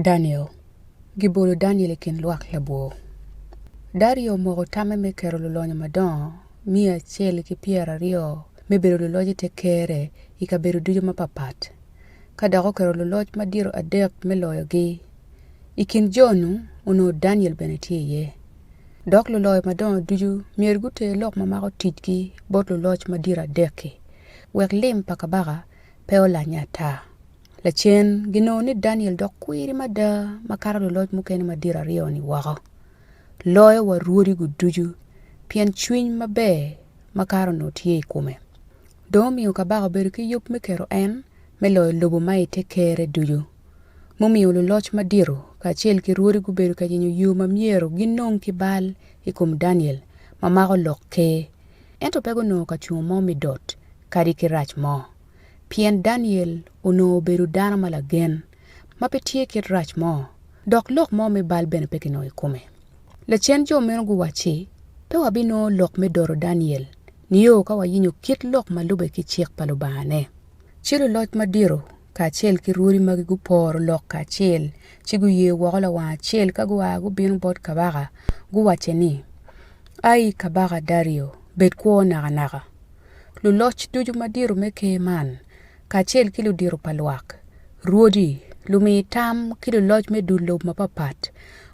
Daniel. Gibolo Daniel i kin lwak labwor. Dario omoko tamme me keto lulonyo madongo miya acel ki pyero aryo me bedo luloc i te kerre i kabedo ducu mapapat, ka dok oketo luloc madito adek me loyogi. I kin jo-nu onongo Daniel bene tye iye. Dok luloyo madongo ducu myero guter lok ma mako ticgi bot luloc madito adek-ki, wek lim pa kabaka pe olanye ata. Lacen, ginongo ni Daniel dok kwiri mada makato luloc mukene madito aryo-ni woko. Loyo wa rwodi-gu ducu, pien cwiny maber makato onongo tye i kome. Dong omiyo kabaka obedo ki yub me keto en me loyo lobo ma i te kerre ducu. Mumiyo luloc madito kacel ki rwodi gubedo ka yenyo yo ma myero ginong ki bal i kom Daniel ma mako lok ker. Ento pe gunongo kacungo mo me dot. kadi ki rac mo, pien Daniel onongo obedo dano ma lagen ma pe tye kit rac mo, dok lok mo me bal bene pe kinongo i kome. Lacen jo meno guwacci, Pe wabinongo lok me doro Daniel nio ka wayinyo kit lok ma lubbe ki cik pa Lubangane. Ci luloc madito kacel ki rwodi magi guporo lok kacel, ci guye woko lawang acel ka gua gubino bot kabaka, guwacce ni, Ai, kabaka Dario, bed kwo nakanaka! luloc ducu madito me Ker man, kacel ki ludito pa lwak, rwodi, lumi tam, ki luloc me dul lobo mapapat,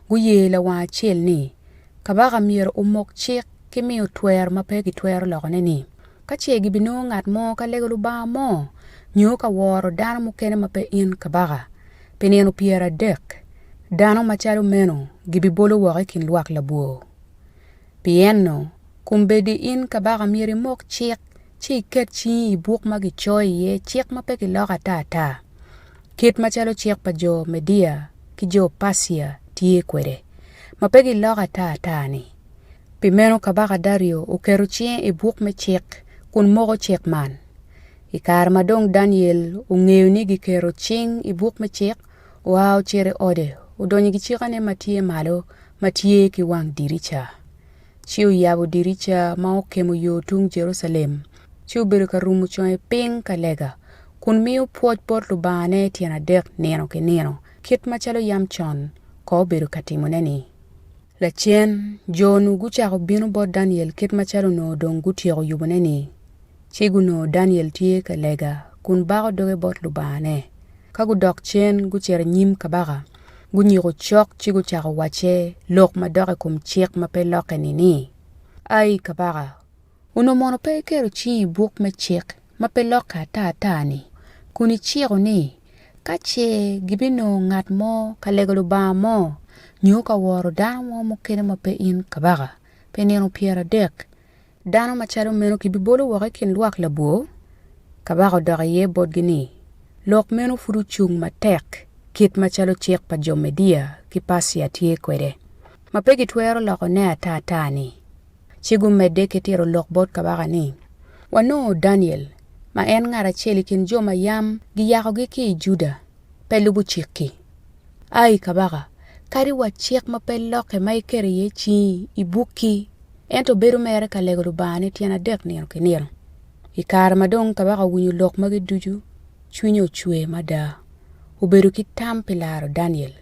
guye lawang acel ni, Kabaka myero omok cik ki miyo twero ma pe kitwero lokone ni, Ka ce gibinongo ngat mo ka lego lubanga mo, nyo ka woro dano mukene ma pe in kabaka, pi nino pyeradek, dano macalo meno gibibolo woko i kin lwak labwor. Pienno, kombeddi in kabaka myero imok cik ci iket cingi i buk ma gicoyo iye cik ma pe kiloko ata ata, kit macalo cik pa jo Media ki jo Percia tye kwede, ma pe giloko ata ata-ni. Pi meno kabaka Dario oketo cinge i buk me cik kun moko cik man. I kare ma dong Daniel ongeyo ni giketo cing i buk me cik, oa ocito i ode, odonyo i kicekane ma tye malo ma tye ki wang dirica, ci oyabo dirica ma okemo yo tung Jerucalem, ci obedo ka rumo conge piny ka lega, kun miyo pwoc bot Lubangane tyen adek nino ki nino, kit macalo yam con kono obedo ka timone-ni. Lacen, jo-nu gucako bino bot Daniel kit macalo onongo dong gutyeko yubone-ni, ci gunongo Daniel tye ka lega kun bako doge bot lubangane. Ka gudok cen gucito i nyim kabaka, gunyiko cok ci gucako wacce lok madok i kom cik ma pe lokke-ni ni, Ai kabaka, Onongo mono pe iketo cingi i buk me cik ma pe lokke ata ata-ni, kun iciko ni, Ka ce gibinongo ngat mo ka lego lubanga mo, nyo ka woro dano mo mukene ma pe in kabaka, pi nino pyeradek, dano macalo meno kibibolo woko i kin lwak labwor? Kabaka odok iye botgi ni, Lok meno pud ocung matek kit macalo cik pa jo Media ki Percia tye kwede, ma pe gitwero lokone ata ata-ni. ci gumedde ki tito lok bot kabaka ni, Wanongo Daniel, ma en ngat acel i kin jo ma yam giyakogi ki i Juda, pe lubo cik-ki. Ai kabaka, kadi wa cik ma pe lokke ma iketo iye cingi i bukki, ento bedo mere ka lego Lubangane tyen adek nino ki nino. I kare ma dong kabaka owinyo lok magi ducu, cwinye ocwer mada, obedo ki tam pi laro Daniel.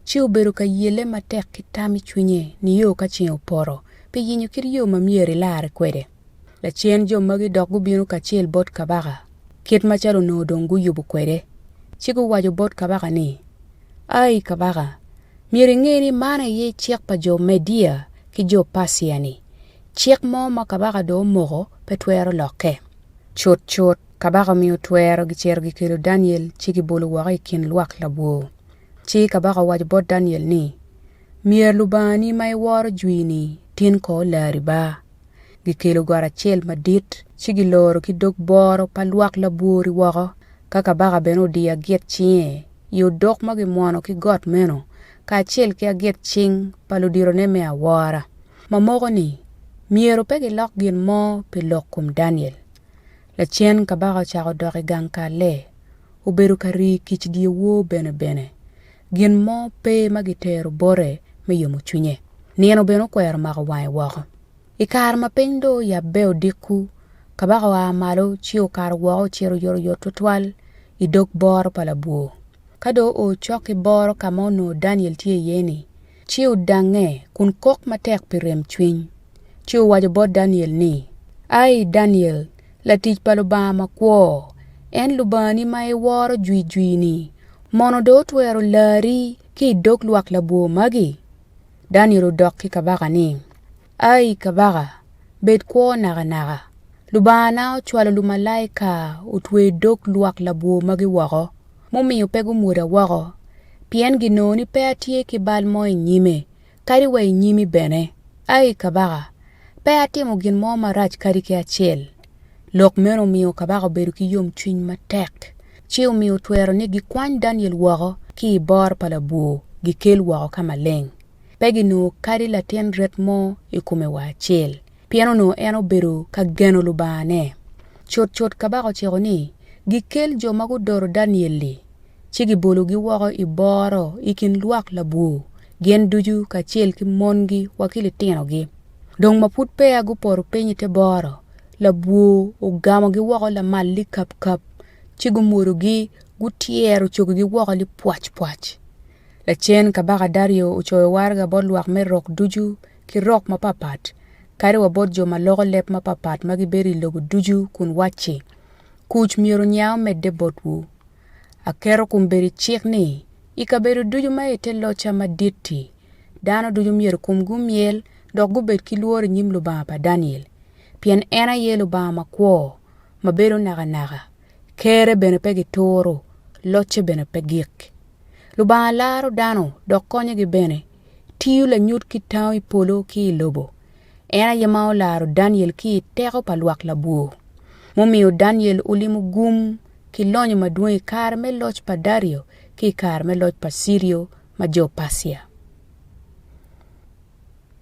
ci obedo ka yelle matek ki tam i cwinye nio ka ceng opoto pi yenyo kit yo ma myero elarre kwede. Lacen jo magi dok gubino kacel bot kabaka, kit macalo onongo dong guyubo kwede, ci guwaco bot kabaka ni, Ai kabaka, myero inge ni man aye cik pa jo Media ki jo Percia-ni, cik mo ma kabaka dong omoko pe twero lokke. Cutcut, kabaka omiyo twero gicito gikelo Daniel ci gibolo woko i kin lwak labwor. Ci kabaka owaco bot Daniel ni, Myero Lubangani ma iworo jwi-ni tin kor lari ba. Gikelo got acel madit, ci giloro ki dog boro pa lwak labwor-ri woko, ka kabaka bene odiyo aget cinge i odok ma gimwono ki got meno, kacel ki aget cing pa luditone me awora. Mamoko ni, myero pe gilok gin mo pi lok kom Daniel. Lacen kabaka ocako odok i gang kalle. obedo ka rii kic dyewor bene bene. Gin mo pe ma gitero bote me yomo cwinye. Nino bene okwero mako wange woko. I kare ma piny dong oyabbe odiko, kabaka oa malo ci okato woko ocito oyotoyot twatwal i dog boro pa labwor. Ka dong oo cok ki boro ka ma onongo Daniel tye iye-ni, ci odangnge kun kok matek pi remcwiny, ci owaco bot Daniel ni, Ai Daniel, latic pa Lubanga makwo, en Lubangani ma iworo jwijwi-ni, mono dong otwero lari ki i dog lwak labwor magi? Daniel odok ki kabaka ni, Ai kabaka, bed kwo nakanaka! Lubangana ocwalo lumalaika otweyo dog lwak labwor magi woko, mumiyo pe gumwoda woko, pien ginongo ni pe atye ki bal mo i nyime, kadi wa i nyimi bene. Ai kabaka, pe atimo gin mo marac kadi ki acel. Lok meno omiyo kabaka obedo ki yomcwiny matek, ci omiyo otwero ni gikwany Daniel woko ki i bor pa labwor, gikel woko ka maleng. pe ginongo kadi latin ret mo i kome wa acel, pien onongo en obedo ka geno Lubangane. Cutcut kabaka ociko ni gikel jo ma gudoro Daniel-li, ci gibologi woko i boro i kin lwak labwor, gin ducu kacel ki mongi wa ki litinogi. Dong ma pud peya gupoto piny i te boro, labwor ogamogi woko lamal likapkap, ci gumwodogi, gutyero cogigi woko lipwacpwac. Lacen, Kabaka Dario ocoyo waraga bot lwak me rok ducu ki rok mapapat, kadi wa bot jo ma loko leb mapapat ma gibedo i lobo ducu kun wacci, Kuc myero nya omedde botwu. Aketo kombeddi cik ni, i kabedo ducu ma i te locca madit-ti, dano ducu myero komgi omyel dok gubed ki lworo i nyim Lubanga pa Daniel, pien en aye Lubanga makwo, ma bedo nakanaka, Kerre bene pe gituro, locce bene pe gik. Lubanga laro dano dok konyogi bene. Tiyo lanyut ki tango i polo ki i lobo. En aye ma olaro Daniel ki i teko pa lwak labwor. Mumiyo Daniel olimo gum ki lonyo madwong i kare me loc pa Dario ki i kare me loc pa Cirio ma jo Percia.